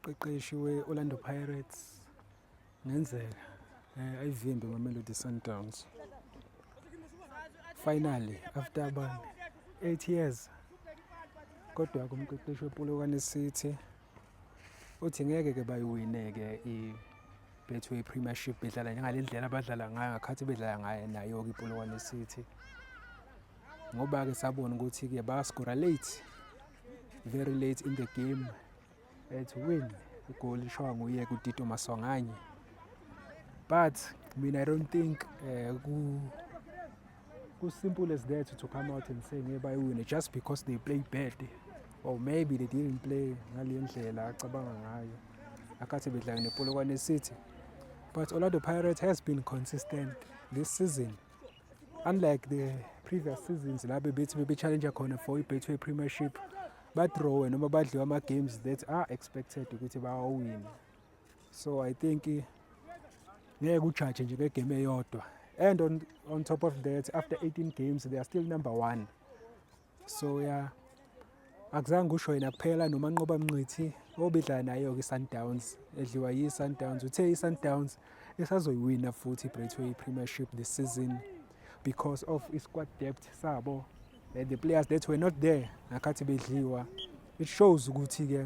qeqeshi we-orlando pirates ngenzeka um ayivimbe mamelody sundowns finally after about eight years kodwa kumqeqeshi wepolokwane city uthi ngeke ke bayiwine-ke i-betway premiership bedlala ngale ndlela abadlala ngayo ngakhathi bedlala ngayo nayo-ke ipolokwane city ngoba-ke sabona ukuthi-ke baskora late very late in the game at win igoli lishawa nguye kutito masonganye but mina i don't think um As simple as that to come out and say ngeke bayiwine just because they play bad or maybe they didn't play ngale ndlela acabanga ngayo akhathi bedlala nepolokwane city but orlando pirates has been consistent this season unlike the previous seasons la bebethi bebechallenge khona for i-betway premiership badrowe noma badliwe ama-games that are expected ukuthi bawawine so i think ngeke ujaje nje ngegame eyodwa and on, on top of that after 18 games they are still number one so ya yeah, akuzange usho yena kuphela nomanqoba mnqithi obidlala nayo-ke i-sundowns edliwa yi-sundowns uthe i-sundowns isazoyiwina futhi i-bretway premiership this season because of i-squad depth sabo and the players that were not there ngakhathi bedliwa it shows ukuthi-ke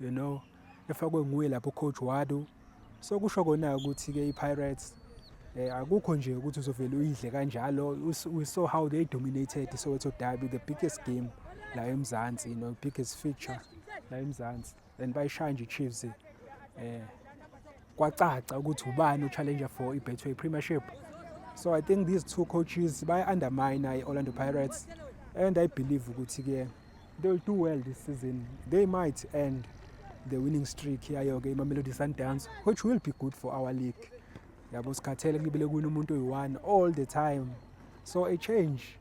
you know efakwe nguye lapho coach Wadu so kusho kona ukuthi ke iPirates eh akukho nje ukuthi uzovela uyidle kanjalo we saw how they dominated Soweto Derby the biggest game la eMzansi you know biggest feature la eMzansi and bayishaya nje iChiefs eh kwacaca ukuthi ubani uchallenger for iBetway Premiership so i think these two coaches baya undermine iOrlando Pirates and i believe ukuthi ke They will do well this season. They might end the winning streak yayo ke iMamelodi Sundowns which will be good for our league. Yabo sikhathele kubile kuwina umuntu oyi-1 all the time. So a change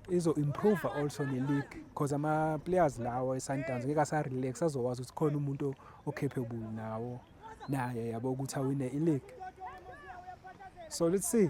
izo improve also ne league because ama players lawo eSundowns ngeke asa relax azowazi ukuthi khona umuntu ocapable nawo naye yabo ukuthi awine i league. So let's see